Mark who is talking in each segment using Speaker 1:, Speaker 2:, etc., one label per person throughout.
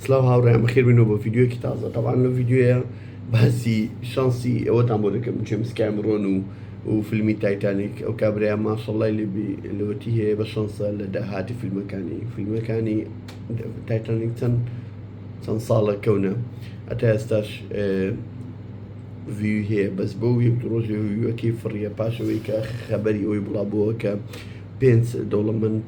Speaker 1: سلااو هاوڕێیان بەخێر بنەوە بۆ ڤیددیوەکی تازە تاوان لە ڤیددیوە باسی شانسی ئەوەتان بۆ دەکەم جێمسکایم ڕۆن و و فیلمی تایتانیک ئەو کابراە ماشەڵای لێبی لەوەتی هەیە بە شانسە لە داهاتی فیلمەکانی فیلمەکانی تایتانیک چەند چەند ساڵە کەونە ئەتا ئێستاش وی هەیە بەس بۆ یەک ڕۆژێ ویوەکی فڕیە پاشەوەی کە خەبەری ئەوی بڵا بووە کە پێنج دەوڵەمەند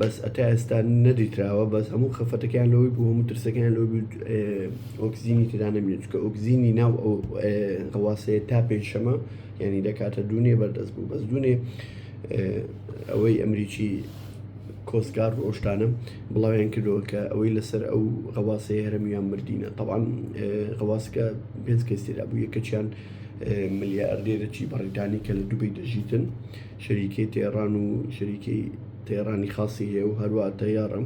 Speaker 1: بەس ئەتا ئێستا نەدیتراوە بەس هەموو خەفەتەکەیان لەوەی بوو هەموو ترسەکەیان لەوەی بوو ئۆکسجینی تێدا نەبینێت چونکە ئۆکسجینی ناو ئەو هەواسەیە تا پێنجشەمە یعنی دەکاتە دوونێ بەردەست بوو بەس دوونێ ئەوەی ئەمریکی کۆستگار ڕۆشتانە بڵاویان کردەوە کە ئەوەی لەسەر ئەو غەواسەیە هەرمیان مردینە تەوان غەواسکە پێنج کەس تێدا بوو یەکەچیان ملیاردێرەی بەڕیتانی کە لە دوبەی دەژیتن شەریکەی تەیڕان و شەریکەی تەیڕانی خاصی هەیە و هەروە تەیارە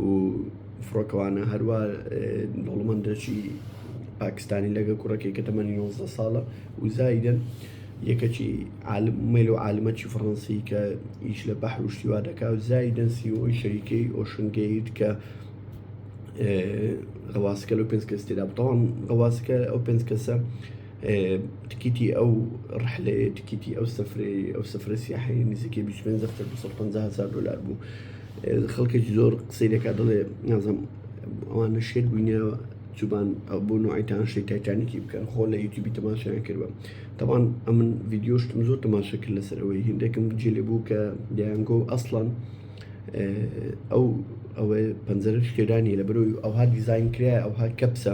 Speaker 1: و فڕۆکەوانە هەروە دەوڵمەندەشی پاکستانی لەگە کوڕەکەی کە تەمەنی 11 ساڵە و زایدن یەکەکی مەل و عالمەکی فڕەنسی کە ئیش لە بەحر و شتیوا دەکا و زایدن سیۆی شەریکەی ئۆشنگەیت کە غەواسکە لە پێنج کەس تێدا بتەوان غەواسکە ئەو پێنج کەسە تکیتی ئەو ڕحلەیە تکیتی ئەو سفری ئەو سفرە سیاحی نزیکە 25 دەفتەر 250 هزار دلار بوو خەڵکێکی زۆر قسەی لەکە دەڵێ نازم ئەوانە شێت بووینەوە چوبان ئەو بۆ نوعیتان شێت تایتانیکی بکەن خۆ لە یوتیوبی تەماشایان کردوە تەوان ئەمن ڤیددیۆشتم زۆر تەماشە کرد لەسەرەوەی هندێکم جێ لێ بوو کە دەیانگۆ ئەسڵان ئەو ئەوەی پەنجەرە شکێرانی لە بەرەوەی ئەوها دیزین کرای ئەوها کەپسە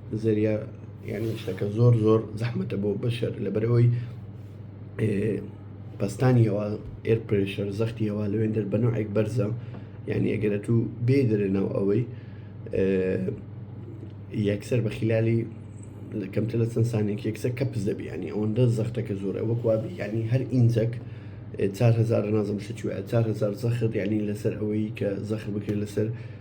Speaker 1: زەریا یعنی شتەکە زۆر زۆر زەحمەتە بۆ بەشەر لەبەرەوەی پستانیەوە ئێر پرشەر زەختیەوە لەوێن دەر بەنەوەێک بەرزە یعنی ئەگەرە تو بێ دەرە ناو ئەوەی یەکسەر بە خلالی لە کەمتە لە چەند سانێک یەکسە کە پزەبی ینی ئەوەندە زەختەکە زۆرە وەکوابی ینی هەر ئینجەک 4هزار نازم شتوە 4هزار زەخت ینی لەسەر ئەوەی کە زەخت بکرێت لەسەر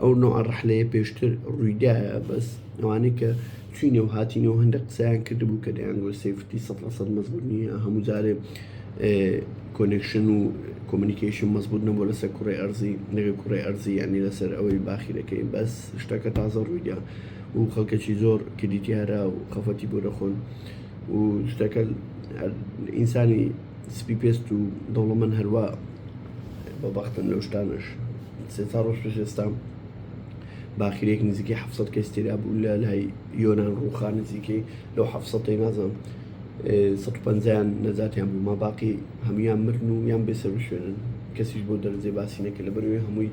Speaker 1: ئەو نوعە ڕەحلەیە پێشتر ڕوویدایە بەس ئەوانەی کە چوینە و هاتینەوە هەندە قسەیان کردبوو کە دەیانگۆ سفتی سە سە مەزبوو نیە هەموو جارێ کۆنێکشن و کۆمنیکیشن مەزبوط نەبوو لەسەر کوڕی ئەرزی نەگە کوڕی ئەرزی ینی لەسەر ئەوەی باخیرەکەی بەس شتەکە تازە ڕوویدا و خەڵکەکی زۆر کردی دیارە و خەفەتی بۆ دەخۆن و شتەکە ئینسانی سپی پێست و دەوڵەمەن هەروە بەبختن لەو شتانش سێ چوار ڕۆژ پێش ئێستا باخیرێک نزیکەی ح کەس تێدا بوو لە لای یۆناان ڕووخان نزیکەی لەو ح نازم 150یان نەجاتیان بوو ما باقی هەموان مرن و یان بێسەر شوێنن کەسیش بۆ دەرجێ باسی نەکە لە بەروێ هەمووی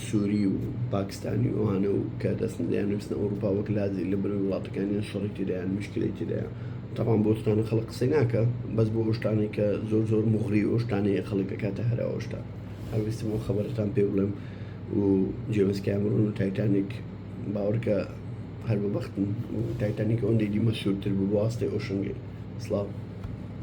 Speaker 1: سووری و پاکستانی ئەوانە و کە دەستن دەیان نووسن ئەوروپا وەک لازی لە بەر وڵاتەکانیان شەڕی تێدایان مشکلی تێدایە تاوان بۆستانە خەڵک قسەی ناکە بەس بۆ ئۆشتانێک کە زۆر زۆر مغری ئۆشتانەیە خەڵکەکاتە هەرا ئۆشتان هەڵویستم ئەو خەبەرتان پێ بڵێم و جێمس کامرون و تایتانیک باوەڕکە هەر بە بەختن و تایتانیک ئەوەندەی دیمە سوورتر بوو بۆ ئاستێ ئۆشنگەی سڵاو.